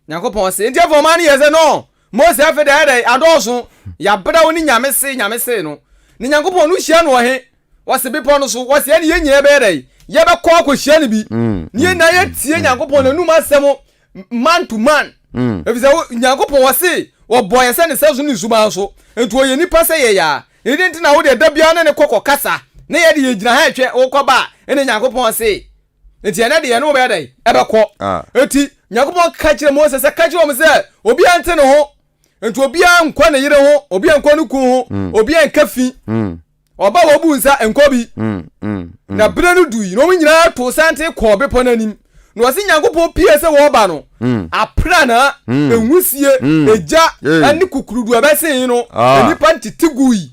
Nyankopɔn se, Enti afei ɔman no yɛ sɛ no? Mose, afei de ayɛ dɛ, adɔɔso, yɛabrɛ wo ne Nyame se, Nyame se no. Ne Nyankopɔn no hyia no wɔ he? Wɔse, Bepɔ no so. Wɔse, Ɛne yɛn nyinaa bɛyɛ dɛ? Yɛbɛkɔ akɔhyia no bi. Ne yɛn nyinaa yɛtie Nyankopɔn n'anum asɛm man to man. Efiri sɛ Nyankopɔn ɔse, Wɔbɔɔ yɛ sɛ ne sɛso ne suban so, enti ɔyɛ nipa sɛ yɛn aa. Enti dɛn nti na wo deɛ da biara ne ne kɔ kɔkasa, na yɛ de yɛgyina ha hwɛ wo kɔba a, ɛne Nyankopɔn se, Enti ɛnɛ de yɛne wo bɛyɛ dɛn? Ɛbɛkɔ. Enti Nyankopɔn ka kyerɛ Mose sɛ, Ka kyerɛ wɔn sɛ, obiara nte ne ho. Enti obiara nkɔ ne yere ho, obiara nkɔ ne kunu ho, mm. obiara nka fi. Mm. Ɔba wɔbu nsa nkɔ bi. Mm, na bere no dui, na wɔn nyinaa to santen kɔɔ bepɔ no anim. Na ɔse Nyankopɔn pie sɛ wɔreba no, apranaa, enwusie, egya, ne kukurudu a ɛbɛsen no, nnipa ntete gui,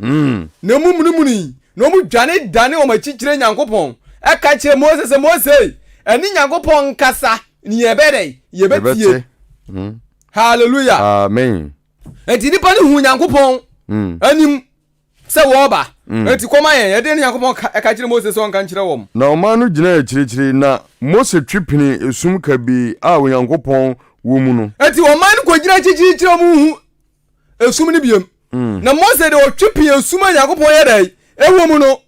na emu munumunui, Na wɔn dwane dane wɔn akyi kyerɛ Nyankopɔn, ɛka kyerɛ Mose sɛ, Mose, ɛne Nyankopɔn nkasa, ne yɛbɛyɛ dɛn? Yɛbɛtie. Yɛbɛte. Hmm. Hallelujah. Amen. Enti nipa no hu Nyankopɔn Hmm. anim sɛ wɔreba. Mm. Enti kɔma yɛn, ɛdeɛ ne Nyankopɔn ka, ɛka kyerɛ Mose sɛ ɔnka nkyerɛ wɔn. Na ɔman no gyinaa akyirikyiri, na Mose twe penee esum kabii a Onyankopɔn wɔ mu no. Enti ɔman no kɔgyina akyirikyiri kyerɛ wɔn hu esum no biom mm. na mose de ɔtwe pii esum a nyankopɔn yɛ dɛn ɛwɔ mu no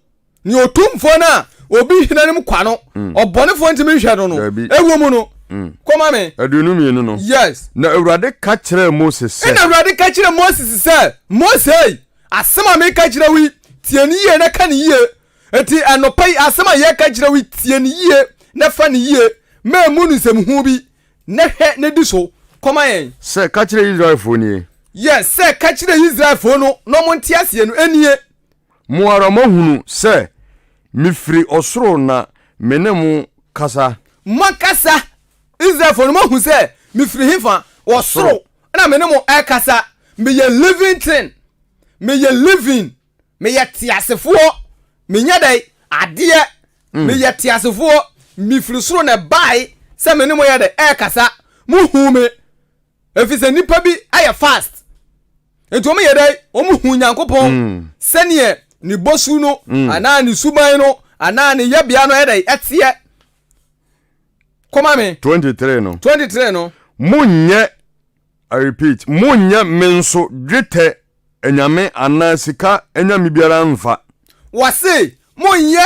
ne ɔtumfoɔ no a obi hena no mu kwa no mm. ɔbɔnefoɔ ntumi nhwɛ no no ɛwɔ mu no mm. kɔma me aduonu mmienu no yes na awurade ka kyerɛ mose sɛ ɛna awurade ka kyerɛ mose sɛ mose asɛm a meka kyerɛ wo tie ne yie na ka ne yie enti anɔpa yi asɛm a yɛka kyerɛ wo tie ne yie na fa ne yie ma ɛmu no nsɛmhu bi Nnɛ hwɛ na di so kɔma yɛn. Sɛ ka kyerɛ Israelfoɔ nie. Yɛ sɛ ka kyerɛ Israelfoɔ no na wɔnte aseɛ no nie. Mo ara moahunu sɛ mefiri ɔsoro na me ne mo kasa. Mo ankasa Israelfoɔ no moahu sɛ mefiri hefa? Wɔ soro na me ne mo rekasa. Meyɛ living thing. Meyɛ living. meyɛ teasefoɔ menyɛ dɛn adeɛ mm. meyɛ teasefoɔ mefiri soro na ɛbae sɛ me ne mo yɛ dɛ ɛrekasa mohu me ɛfiri sɛ nnipa bi ayɛ fast nti wɔn yɛ dɛ wɔn hu nyankopɔn mm. sɛdeɛ ne bosu no mm. anaa ne suban no anaa ne yɛbea no ɛdɛ ɛteɛ kɔma me 23 no 23 no monyɛ I repeat, monnyɛ me nso dwetɛ anyame anaa sika anyame biara mfa. Wɔse, monnyɛ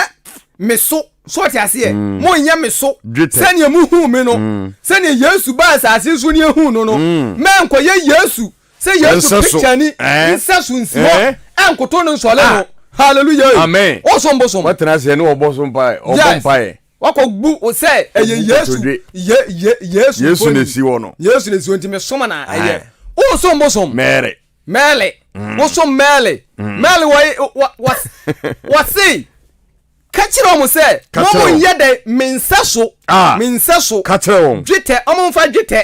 me so, so ɔte aseɛ, mm. monnyɛ me so dwetɛ. sɛdeɛ mohuu me no, mm. sɛdeɛ Yesu baa asase so ne yɛhuu no no, mm. mɛnkɔyɛ Yesu sɛ Yesu pikyani eh? nsɛ so nsi hɔ eh? ɛnkoto no nsɔle no. Ah. Hallelujah. Amen. Ɔsom bosom. Wɔtena aseɛ ne wɔbɔ so mpaeɛ, ɔbɔ mpaeɛ. Wakɔ bu wo sɛ ɛyɛ Yesu, ye, ye, Yesu mfoni. Yesu na esi hɔ no. Yesu na esi hɔ nti me som na ɛyɛ. Wo som bosom. Mary. Mary. Mm. Wo som Mary. Mm. Mary wɔ wɔ wɔ wɔ se. Ka kyerɛ wɔn sɛ. Ka kyerɛ wɔn. Wɔn nyɛ dɛ me nsa so. Ah. Me nsa so. Ka kyerɛ wɔn. Dwetɛ wɔn nfa dwetɛ.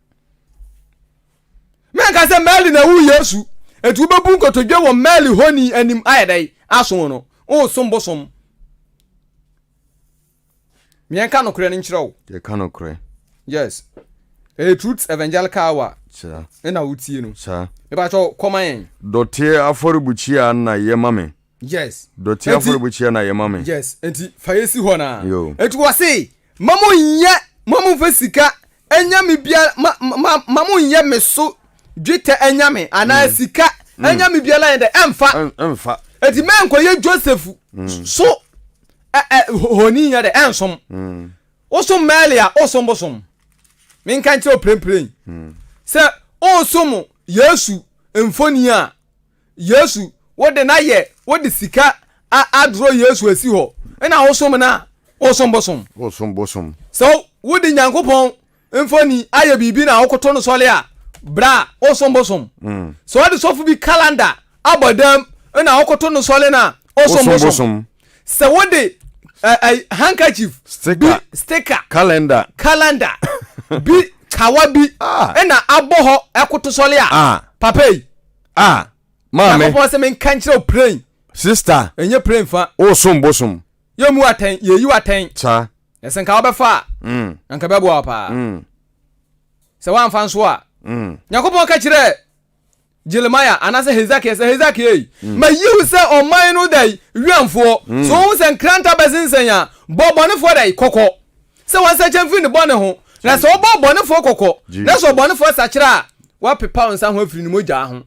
mɛnka sɛ mary na ɛwo yesu etu bɛbu nkotodwe wɔ mary honi anim ayɛ dɛ aso no ɔresom bosom mmiɛnka nokorɛ no nkyerɛ wo yɛka nokorɛ yes ɛyɛ truth evangelical hour ɛna wotie no mebakyɛ kɔma yɛn dɔteɛ afɔrebukyia na yɛma me yes dɔte Enti- afɔrebukyia na yɛ ma me yes nti fa yɛ si hɔ na Yo. nti wɔ se ma mo nyɛ ma mo nfa sika anyame biara ma ma ma mo nyɛ me so dwetɛ anyame anaa Mm. sika Mm. anyame biara yɛ dɛ ɛmfa Ɛn- ɛmfa nti mɛ nkɔyɛ joseph Mm. so ɛ ɛ ho- honi yɛ dɛ ɛnsom Mm, wosom mɛli a wosom bosom menka nkyerɛ wo prempren mm. sɛ wosom yesu mfoni a Yesu wo de na yɛ wo de sika a adorɔ Yesu asi hɔ na wosom no a wosom bosom. Wosom bosom. Sɛ wo de Nyankopɔn mfoni ayɛ biribi na wokoto no sɔre a bra a wosom bosom. Mm. Sɛ ɔde sɔfo bi kalanda abɔ dam na wokoto no sɔre no a wosom bosom. Sɛ wo de uh, uh, handkerchief sticker. bi sticker calendar calendar bi kawa bi ah. na abɔ hɔ ɛkoto sɔre a ah. papa yi a maame. Nyankopɔn sɛ menka nkyerɛ wo plen. Sista. Ɛnyɛ plen fa. Wosom bosom. Yɛmmu atɛn, yɛyi atɛn. Saa. Na sɛ nka wobɛfa a, mm. na nka bɛboa wo paa. Mm. Sɛ woamfa nso a. Mm. Nyankopɔn ka kyerɛ Jeremiah anaasɛ Hezekiah sɛ Hezekiah ei, mm. mayi wo sɛ ɔman no dai wiamfoɔ. Mm. So wohu sɛ nkranta bɛsensɛn a, bɔ bɔnefoɔ dai kɔkɔ. Sɛ wɔnsakyera mfiri ne bɔne ho, na sɛ wɔbɔ ɔbɔnefoɔ kɔkɔ, na sɛ ɔbɔnefoɔ sakyera a, wɔapepa wo nsa ho afiri ne mogyaa ho.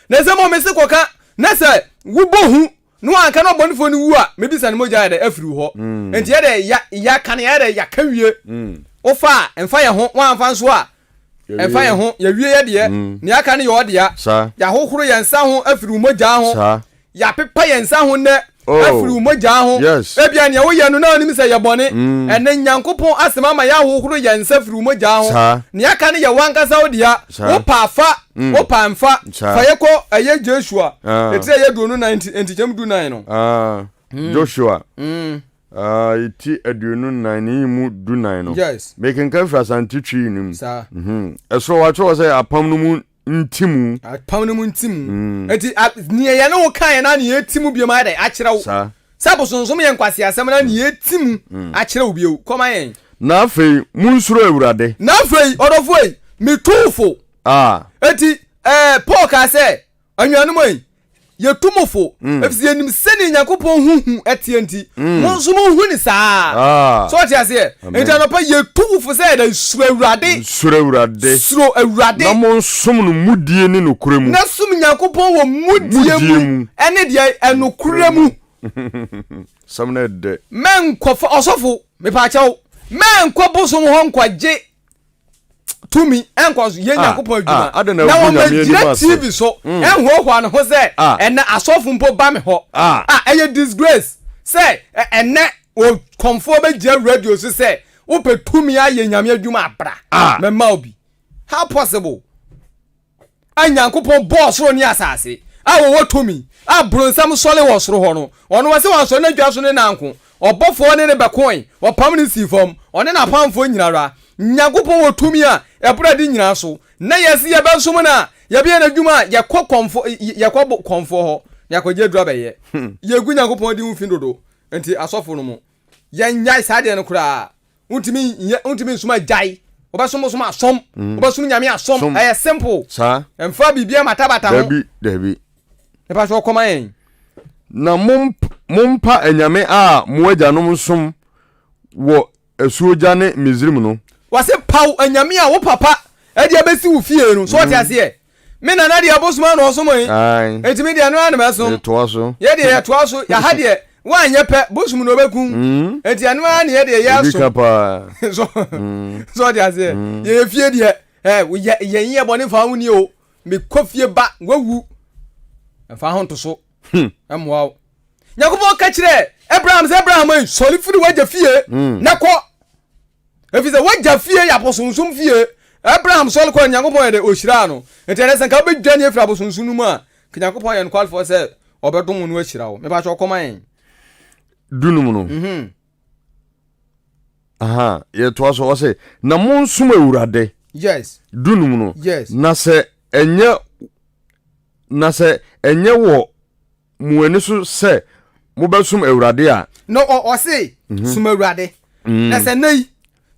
Na sɛ mmom mese kɔka, na sɛ wobɔ hu, na wɔanka na ɔbɔnefoɔ no wu a, mebisa ne mogya yɛ dɛ afiri wo hɔ. Enti yɛ dɛ ya, ya, ka nea yɛ dɛ yɛaka wie. Wofa a, mfa yɛ ho, woamfa nso a, Ɛmfa yɛn ho, yɛawie yɛn deɛ, mm. nea aka no yɛ ɔdea. Yɛahohoro yɛn nsa ho afiri wo mogyaa ho. Yɛapepa yɛn nsa ho nnɛ oh. afiri wo mogyaa ho. Ebia nea woyɛ no na wonim sɛ yɛ bɔne. Mm. Ɛnɛ Nyankopɔn asɛm ama yɛahohoro yɛn nsa afiri wo mogyaa ho. Nea aka no yɛ wankasa wo dea. Wopa fa, mm. wopa mfa. Fa yɛ kɔ ɛyɛ Joshua. Ah. Ɛtiri ɛyɛ duonu nan nti, ntikyɛm du nan no. Ah. Mm. Joshua. Aah ti aduonu nnan ne yi mu du nan no Yes. mekenkan firi Asante Twi no mu Saa. mhm ɛsoro watwerɛ hɔ sɛ apam no mu nti mu Apam no mu nti mu Mm. enti a neɛ yɛne wo kaeɛ na neɛ ɛti mu biom ayɛ dɛn akyerɛ wo saa sɛ abosonsom yɛ nkwaseasɛm na neɛ ɛti mu Mm. akyerɛ wo bio kɔma yɛn na afei monsuro Awurade na afei ɔdɔfoɔ yi metuu fo a. enti ɛɛ Paul kaa sɛ anuanom ei, yɛtu mo fo mm. ɛfisɛ yɛnim sɛdeɛ nyankopɔn ho hu ɛteɛ nti mm. mo nso mohu ne saa ah. sɛ ɔte aseɛ nti anɔpa yɛtu wo fo sɛ ɛdɛ suro awurade suro awurade suro awurade na monsom no mudie ne nokorɛ mu na som nyankopɔn wɔ mudie mu ɛne deɛ ɛnokorɛ mu sɛm no ɛdɛ mɛnkɔfa ɔsɔfo mepaakyɛw mɛnkɔ bosom hɔ nkɔgye tumi nkɔ so yɛ ah, nyankopɔn adwuma ah, na wɔmɛgyina tv so mm. ɛnhoahoa no ho sɛ ah. ɛnɛ asɔfo mpo ba me hɔ a ɛyɛ disgrace sɛ ɛnɛ ɔkɔmfoɔ bɛgyina radio so sɛ wopɛ tumi ayɛ nyame adwuma abra mɛma obi how possible a Nyankopɔn bɔɔ soro ne asase, a wɔwɔ tumi, a bronsam sɔre wɔ soro hɔ no, ɔno ɔse wansɔre n'adwuma so ne nanko, ɔbɔfoɔ ne no bɛkoe, ɔpam no sii fam, ɔne n'apamfoɔ nyinara. Nyankopɔn wɔ tumi a ɛboro ade nyinaa so, na yɛse yɛbɛsom no a, yɛbɛyɛ n'adwuma a, yɛkɔ kɔmfoɔ, yɛkɔ kɔmfoɔ hɔ, na yɛakɔgye aduro abɛyɛ. Yɛgu Nyankopɔn din ho fi dodo, enti asɔfo no mo, yɛnyae saa deɛ no koraa wontumi nyɛ wontumi nsoma agyae wobɛsom bosom asom mm. wobɛsom nyame asom ɛyɛ simple saa ɛmfa biribia matabata ho dabi dabi nipa sɛ ɔkɔma yɛn na mompa anyame a mo agyanom som wɔ asuogya ne misrim no wɔse paw anyame a wo papa ɛde abɛsi wo fie no so ɔte mm. aseɛ Me nana deɛ abosom ano ɔsom yi. Eti me deɛ no ara na mɛsom. Yɛtoa so. Yɛ deɛ yɛtoa so. Yaha deɛ woanyɛ pɛ bosom na ɔbɛkum. Mm. Eti ɛno ara na yɛ deɛ yɛ asom. Ebi ka paa. So mm. so ɔde aseɛ. Mm. Yɛ yɛ fie deɛ ɛɛ yɛ yɛ yɛ bɔ ne fa ho ni o. Me kɔ fie ba wawu. Ɛfa ho ntoso. Hmm. Ɛmoa o. Nyakubɔ ka kyerɛ Abraham sɛ Abraham yi sɔli firi wagya fie. Hmm. Na kɔ. ɛfiri sɛ wagya fie yɛ abosonsom fie abraham sɔre kɔɔ nyankopɔn yɛ dɛ ɔhyiraa no nti ɛnɛ sɛ nka wobɛdwane afiri abosonsom no mu a ka nyankopɔn yɛ nokwarefoɔ sɛ ɔbɛdom no ahyira wo mepakyɛ ɔkɔma yɛn dunum no mhm. aha yɛtoa so ɔsɛ na monsom awurade yes dunum no yes na sɛ ɛnyɛ na sɛ ɛnyɛ wɔ Mo ani so sɛ mobɛsom Awurade a. Na ɔse, mhm. som Awurade. Mm. Na sɛ nnɛ yi,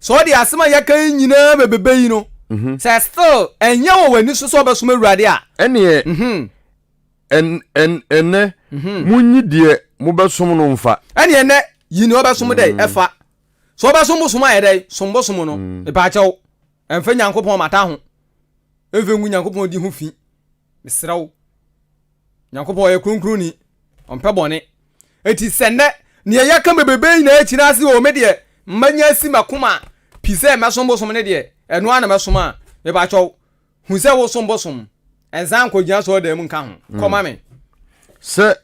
sɛ ɔde asɛm a yɛka yi nyinaa bɛbɛbɛ yi no, mhm. sɛ still ɛnyɛ wɔ w'ani so sɛ ɔbɛsom Awurade a. Ɛneɛ, mhm. ɛnɛ, monyi deɛ mobɛsom no mfa. Ɛneɛ ɛnɛ, yi ne ɔbɛsom dɛ ɛfa. Sɛ ɔbɛsom bosom ayɛ dɛ, som bosom no, mepaakyɛw, ɛmfa Nyankopɔn mata ho, ɛmfa ngu Nyankopɔn di ho fi. Mesrɛ wo, Nyankopɔn ɔyɛ kronkronni, ɔmpɛ bɔne. Enti sɛ nnɛ, neɛ yɛka bebrebe nyinaa akyina ase o, me deɛ manya asi m'akoma pi sɛ mɛsom bosom no deɛ, ɛno ara na mɛsom a, mepakyɛw, hu sɛ wosom bosom, nsan nkɔgyina asɔredan mu nka ho, kɔma me. Sɛ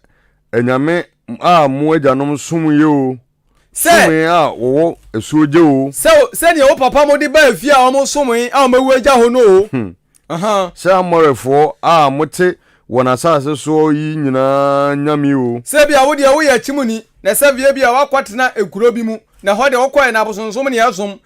anyame a mo agyanom somyɛ o. Sɛ. Somee a wɔwɔ asuo gya oo. Sɛ o, sɛdeɛ wo papa mode baa efie a wɔsomee a wɔawu agya hɔ no oo. Hmm. Aha. Sɛ Amorifoɔ a mote wɔn asase soɔ yi nyinaa nyame oo. Sɛ ebia wo deɛ woyɛ akyimuni, na sɛ via ebia woakɔtena ekuro bi mu, na ɛhɔ deɛ wokɔɛ na abosonsom na ɛsom,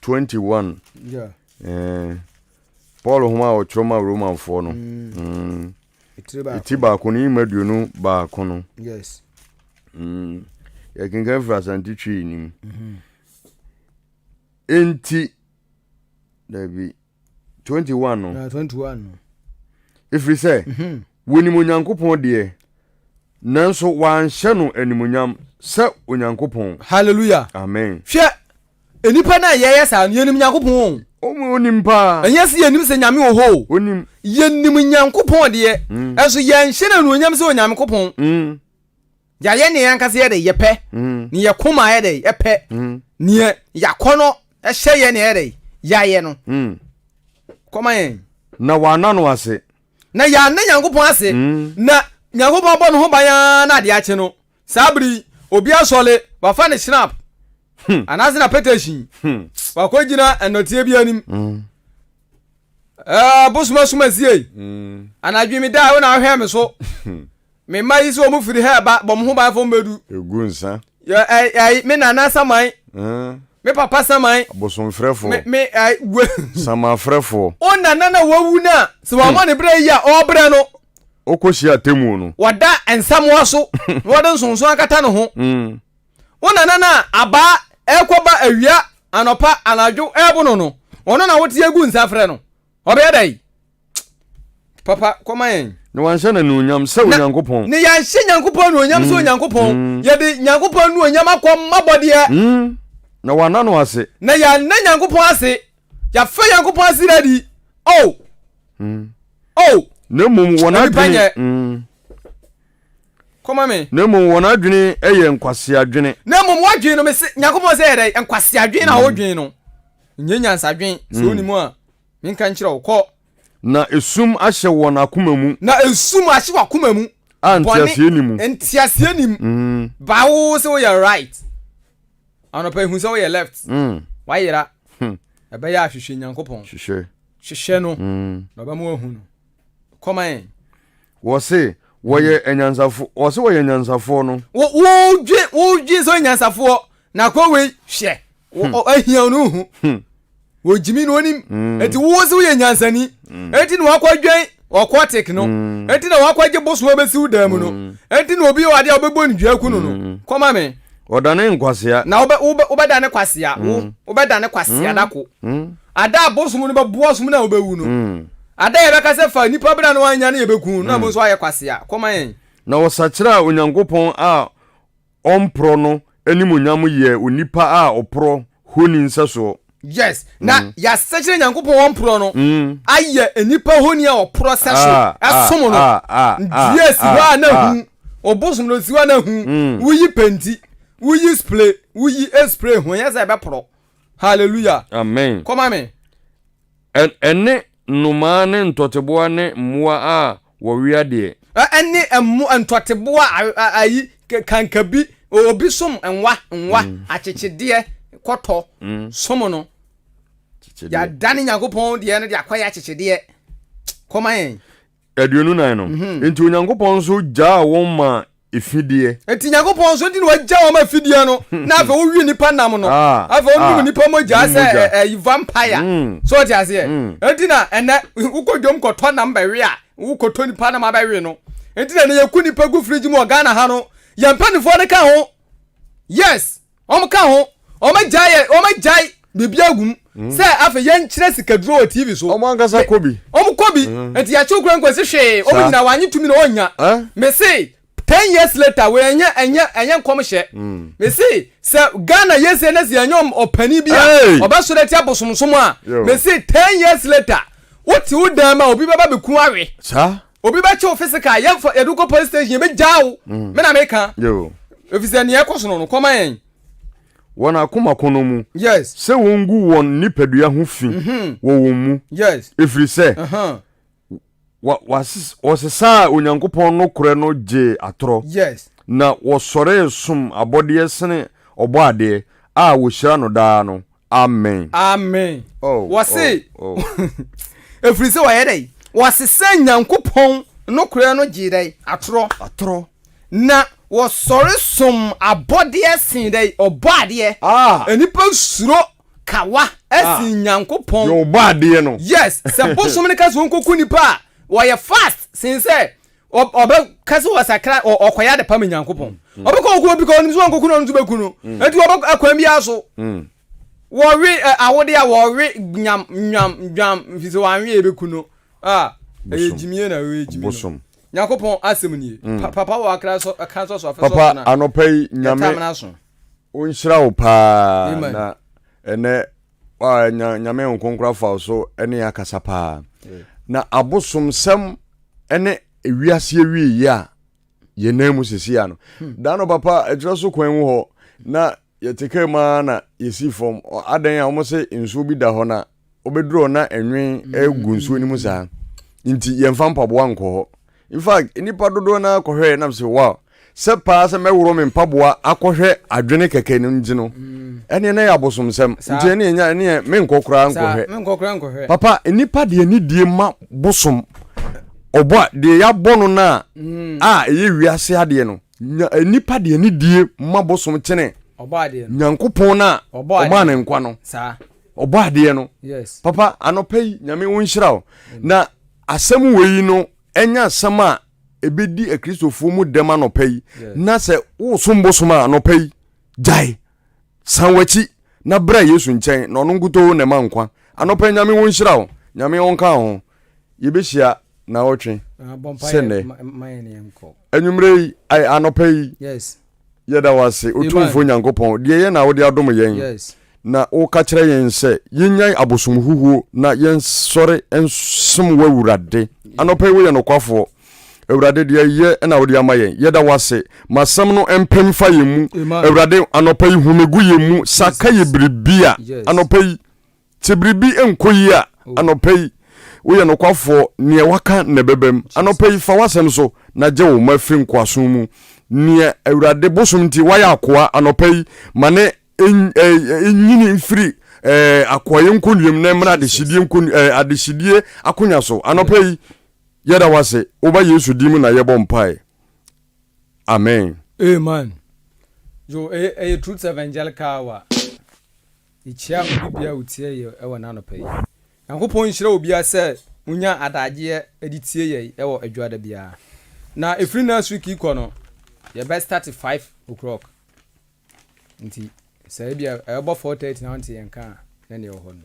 twenty one eh, Paul nhoma a ɔtwerɛ ma Romanfoɔ no ɛti baako no yima aduonu baako no yɛkenkan firi asante twi nim enti dabi 21 no. Ɛfiri sɛ, mhm. wɔnim Onyankopɔn deɛ, nanso wɔanhyɛ no animuonyam sɛ Onyankopɔn. Hallelujah. Amen. Hwɛ, nnipa no a yɛyɛ saa no, yɛnim Nyankopɔn o. Onim paa. Ɛnyɛ sɛ yɛnim sɛ Nyame wɔ hɔ o. Onim. Yɛnim Nyankopɔn deɛ, mm. ɛnso yɛnhyɛ no anuonyam sɛ Onyankopɔn. Mm. Yɛayɛ nea yɛn ankasa yɛ dɛ yɛpɛ, nea yɛn koma yɛ dɛ yɛpɛ, nea yɛn akɔnnɔ hyɛ yɛn na yɛyɛ dɛ yɛayɛ no. Kɔma yɛn. Na wɔanna no ase. Na yɛanna Nyankopɔn ase. Na Nyankopɔn abɔ ne ho ban ara na ade akye no. Saa bere yi, obi asɔre, wafa ne hyinap anaasɛ n'apɛtɛhyi, wakogyina nnɔteɛ bi anim. Ɛɛ, bosom asum asiei. Anadwo meda a, wo na wohwɛ me so. Me mma yi sɛ wɔn firi ha ɛba bɔ mo ho ban fɔ mo bɛdu. Egu nsa. Yɛ ɛɛ ɛɛ me nana saman. Ɛɛ. Me papa saman. Abosomfrɛfoɔ. Me me ɛɛ we. Samafrɛfoɔ. Wo nana na wawu no a sɛ wɔn ne brɛ yi a ɔbrɛ no. Ɔkɔ hyia atemuo no. Wɔda nsamoa so na wɔde nsonson akata ne ho. Wo nana no a abaa ɛkɔ ba awia anɔpa anadwo ɛɛbo no no ɔno na wote agu nsa frɛ no ɔbɛyɛ dɛn papa kɔma yɛn. na wanhyɛ no anuonyam sɛ onyankopɔn. na yɛanhyɛ nyankopɔn anuonyam sɛ mm. onyankopɔn mm. yɛde nyankopɔn anuonyam akɔ mmabɔdeɛ mm. na wanna no ase na yɛanna nyankopɔn ase yɛafa nyankopɔn ase na di o oh. mm. o oh. na mmom wɔn adwene mm. kɔma me na mmom wɔn adwene yɛ nkwaseadwene na mmom wɔadwene no me se nyankopɔn sɛ yɛdɛ nkwaseadwene na wɔdwene no nyɛ nyansadwene sɛ wonim a Menka nkyerɛ wo, kɔ. Na esum ahyɛ wɔn akoma mu. Na esum ahyɛ wɔn akoma mu. A nteaseɛ ni mu. Nteaseɛ ni mu. Mm. Ba wo sɛ woyɛ right. Anɔpa ehu sɛ woyɛ left. Mm. Wayera. Hmm. Ɛbɛyɛ ahwehwɛ Nyankopɔn. Hwehwɛ. Hwehwɛ no. Mm. Na ɔbɛma wahu no. Kɔma yɛn. Wɔse wɔyɛ anyansafoɔ wɔse wɔyɛ anyansafoɔ no. Wodwe wodwe sɛ anyansafoɔ na kɔ wei hwɛ ahia no hu wɔgyimi no onim eti wo se woyɛ nyansani eti na wakɔ dwɛn ɔkɔtik no eti na wakɔ gye bosoɔ bɛsiw dan mu no eti na obi wɔ adeɛ a wobɛbɔ ne dua ku no no kɔma me. Ɔdane nkwasea. Na wobɛdane kwasea wo wobɛdane kwasea dako. Ada a bosom no bɛboa ɔsom no a ɔbɛwu no. Ada a yɛbɛka sɛ fa nnipa bra na wannya no yɛbɛku no na ɛno nso ayɛ kwasea. Kɔ ma yɛn. Na wɔsakyeraa Onyankopɔn a ɔmporɔ no animuonyam yɛɛ onipa a ɔporɔ honi nsɛsoɔ. Yes, na yɛasakyera Nyankopɔn a ɔmporɔ no ayɛ nnipa honi a ɔporɔ sɛso ɛsom no. Dua si hɔ a na hu, ɔbosom no si hɔ a na hu, woyi penti, woyi spray, woyi spray ho, ɛnyɛ sɛ ɛbɛporɔ. hallelujah amen kɔma me ɛne nnomaa ne ntɔteboa ne mmoa a wɔwea deɛ ɛne ɛmo ntɔteboa ayi kankabi obi som nwa nwa mm. akyekyedeɛ kɔtɔ mm. som no yɛadane nyankopɔn deɛ no de akɔyɛ akyekyedeɛ kɔma yɛn aduonu nan no mhm. nti onyankopɔn nso gyaa wɔn ma efideɛ nti nyankopɔn nso nti na wagya wɔn ma efideɛ no mhm. na afei wowie nipa nam no ah, afei wɔnom ah. nipa mogya sɛ eh, eh, ɛyi vampire mm. so ɔte aseɛ mm. nti na ɛnɛ wokɔ dwom kɔtɔ nam bɛwe a wokɔtɔ nipa nam abɛwe no nti na ɛnɛ yɛku nipa gu firigye mu wɔ ghana ha no yɛn mpanimfoɔ no ka ho yes wɔn ka ho wɔn agyae yɛ wɔn agyae biribi agu mu mm. sɛ afei yɛn kyerɛ sikaduro wɔ tv so wɔn ankasa kɔ bi wɔn kɔ bi mm. nti yɛakyew kura nkwa si hwee wɔn nyinaa wɔanye tumi na wɔnya mese ten years later wɔn ɛnyɛ ɛnyɛ ɛnyɛ nkɔm hyɛ mm. mese sɛ ghana yɛ sɛ ɛnɛ sɛ yɛnyɛ ɔpanin bi a ɔbɛsɔrɔ ɛti abosomsom a mese ten years later wote wo dan ma obi bɛba bɛku awe saa obi bɛ kyew physical yɛn fɔ yɛde kɔ police station yɛ bɛ gya o mm. me na me ka efisɛ nea ɛkɔ sono no kɔma yɛn. wɔn akoma kono mu. yes. sɛ wɔn gu wɔn nipadua ho fi. Mhm. wɔ wɔn mu. yes. efiri sɛ. Uh-huh. wɔsesaa onyankopɔn no korɛ no gyee atorɔ. yes. na wɔsɔree som abɔdeɛ sene ɔbɔ adeɛ a wɔhyira no daa no Amen. Amen. Oh, wɔse, oh, oh. ɛfiri sɛ wɔyɛ dɛn? Wɔsesɛ Nyankopɔn nokorɛ no gyee dɛn? Atorɔ. Atorɔ. Na wɔsɔre som abɔdeɛ sen dɛn? Ɔbɔ adeɛ. Ah. Nnipa suro kawa ɛsen ah. Nyankopɔn. Yɛ ɔbɔ adeɛ no. Yes, sɛ bosom no ka sɛ wɔnkɔku nipa a, wɔyɛ fast sen sɛ ɔbɛka sɛ ɔsakra ɔkɔyɛ ade pam nyankopɔn mm. ɔbɛkɔ ɔkɔ obi ka ɔnim sɛ ɔnkɔku no ɔno nso bɛku no mm. ɛnti ɔbɛ akwan biara so mm. wɔwe awode a wɔwe nyam nyam nyam fi sɛ wɔanwe yɛ bɛku no a ɛyɛ gyimie na ɛyɛ gyimi no nyankopɔn asɛm nie papa wɔ akra sɔ ɛka sɔ so afɛ sɔ so na papa anɔpa yi nyame wonhyira wo paa na ɛnɛ a nya nyame nkonkoro afa so ne yɛ akasa paa na abosomsɛm ne ewiase awie yɛ a yɛn nan mu sisi ano hmm. daa no papa ɛkyerɛ so kwan mu hɔ na yɛte kaa mu ara na yɛsi fam adan a wɔn sɛ nsuo bi da hɔ na wɔbɛduru hɔ na ɛnwen hmm. gu nsuo no mu saa nti yɛmfa mpaboa nkɔ hɔ In fact, nnipa dodoɔ no ara kɔhwɛɛ nam sɛ wow, sɛ paa sɛ mɛworo me mpaboa akɔhwɛ adwene kɛkɛ no nti no, ɛneɛ na ɛyɛ abosomsɛm, nti ɛneɛ nya ɛneɛ menkɔ koraa nkɔhwɛ. Papa, nnipa de anidie ma bosom, ɔbɔ a, deɛ yɛabɔ no no a, a ɛyɛ wiase adeɛ no, nya, nnipa de anidie ma bosom kyene Nyankopɔn no a ɔmaa no nkwa no, ɔbɔ adeɛ no. Papa, anɔpa yi, Nyame wo nhyira wo, na Asɛm wei no, ɛnyɛ asɛm a ɛbɛdi Akristofoɔ mu dɛm anɔpa yi, na sɛ wosom bosom a, anɔpa yi, gyae, san w'akyi, na bra Yesu nkyɛn, na ɔno nkutoo na ɛma nkwa. Anɔpa yi, Nyame wo nhyira wo, Nyame ɔnka wo ho. Yɛbɛhyia naawɔtwe sɛ nnɛ. Anwummerɛ yi, anɔpa yi, Yɛda wo ase, Otumfoɔ Nyankopɔn, deɛ ɛyɛ na wode adom yɛn, na woka kyerɛ yɛn sɛ yɛnnyae abosom huhuo na yɛnsɔre nsom w'Awurade. Anɔpa yi woyɛ nokwafoɔ. Awurade, deɛ ɛyɛ na wode ama yɛn. Yɛda wo ase. Ma asɛm no mpem fa yɛn mu. Awurade, anɔpa yi hu megu yɛn mu, saka yɛ biribi a anɔpa yi Sɛ biribi nkɔ yie a, anɔpa yi, woyɛ nokwafoɔ, neɛ waka na ɛbɛbam. Anɔpa yi, fa w'asɛm so na gye wo mma firi nkoasom mu. Neɛ Awurade bosom nti wayɛ akoa, anɔpa yi, ma no nyini mfiri akoayɛ nkonnua mu na ɛmmra adehyedie adehyedie akonya so. Anɔpa yi, yɛda w'ase, woba Yesu din mu na yɛbɔ mpae. Amen. Amen. Yo, ɛyɛ Truth Evangelical Hour. Yekyia obi bia otie yɛ wɔ na anɔpa yi. Nyankopɔn nhyira obia sɛ onya adagyeɛ de tie yɛ wɔ adwuada biara. Na ɛfiri next week yi kɔ no yɛ bɛ start 5 o'clock. Nti sɛ ebia ɛbɔ 4:30 na wonte yɛn nka a na neɛ ɛwɔ hɔ no.